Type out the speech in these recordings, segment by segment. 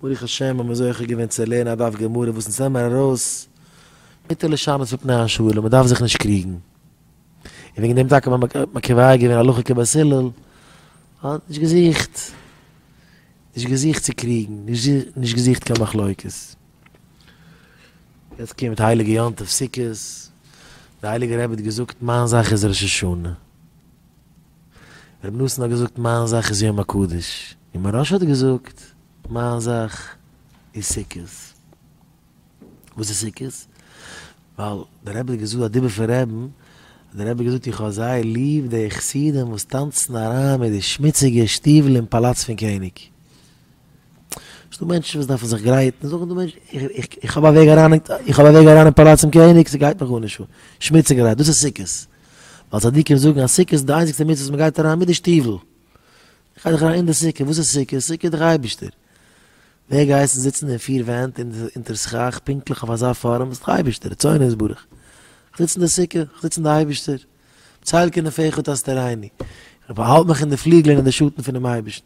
ברוך השם האבן מיר זוכה געווען צו לערנען א דף גמרא וואס אונז נעמען ארויס מיט די לשונות מפני השאלה, מען דארף זיך נישט קריגן. און וועגן דעם טאקע האט מען קובע געווען הלכה כבית הלל, מען האט נישט געזוכט, נישט געזוכט צו קריגן, נישט געזוכט קיין מחלוקת. יעצט קומט הייליגע יום טוב סוכות, דער הייליגער רבי האט געזאגט מיין זאך איז ראש השנה. רבי נתן האט געזאגט מיין זאך איז יום הקדוש, און מוהרא ש האט געזאגט מיין זאך איז סוכות. וואס איז סוכות? ווייל דער רבי האט געזאגט א דיבור פון רעבן, דער רבי האט געזאגט איך האב זייער ליב די חסידים וואס טאנצן אריין מיט די שמוציגע שטיוול אין פאלאץ פון קעניג. ס'איז דא מענטשן וואס דארפן זיך גרייטן, זאגן די מענטשן איך האב א וועג אריין אין פאלאץ פון קעניג, ס'גייט מיך גארנישט אן, שמוציגערהייט, דאס איז סוכות. ווייל צדיקים זאגן אז סוכה איז די איינציגסטע מצוה וואס מען גייט אריין מיט די שטיוול. איך גיי דאך אריין אין די סוכה, וואס איז סוכה? סוכה איז דאך אייבערשטער. ווער געהייסן זיצן אין פיר ווענט אונטער סכך פונקטליך אויף אזא פארעם? איז דאך אייבערשטער, רצונו יתברך. איך זיץ אין די סוכה, איך זיץ אין די אייבערשטער. בצל כנפיך תסתרני. איך באהאלט מיך אין די פליגלען אין די שאטן פונעם אייבערשטן.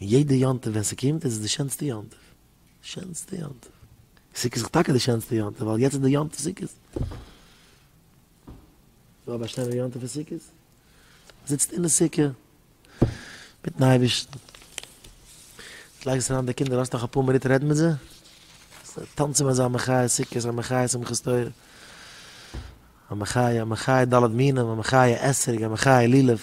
און יעדע יום טוב ווען ס'קומט איז עס די שענסטע יום טוב, שענסטע יום טוב. סוכות איז טאקע די שענסטע יום טוב ווייל יעצט איז די יום טוב סוכות. נאר באשטיין יום טוב איז סוכות. זיצט אין די סוכה מיטן אייבערשטן. לייגסט אריין די קינדער, האסט נאך אפאר מינוט רעד מיט זיי. טאנצן אזא מחיה סוכות, א מחיה שמחת תורה. א מחיה, א מחיה ד' מינים, א מחיה אתרוג, א מחיה לולב.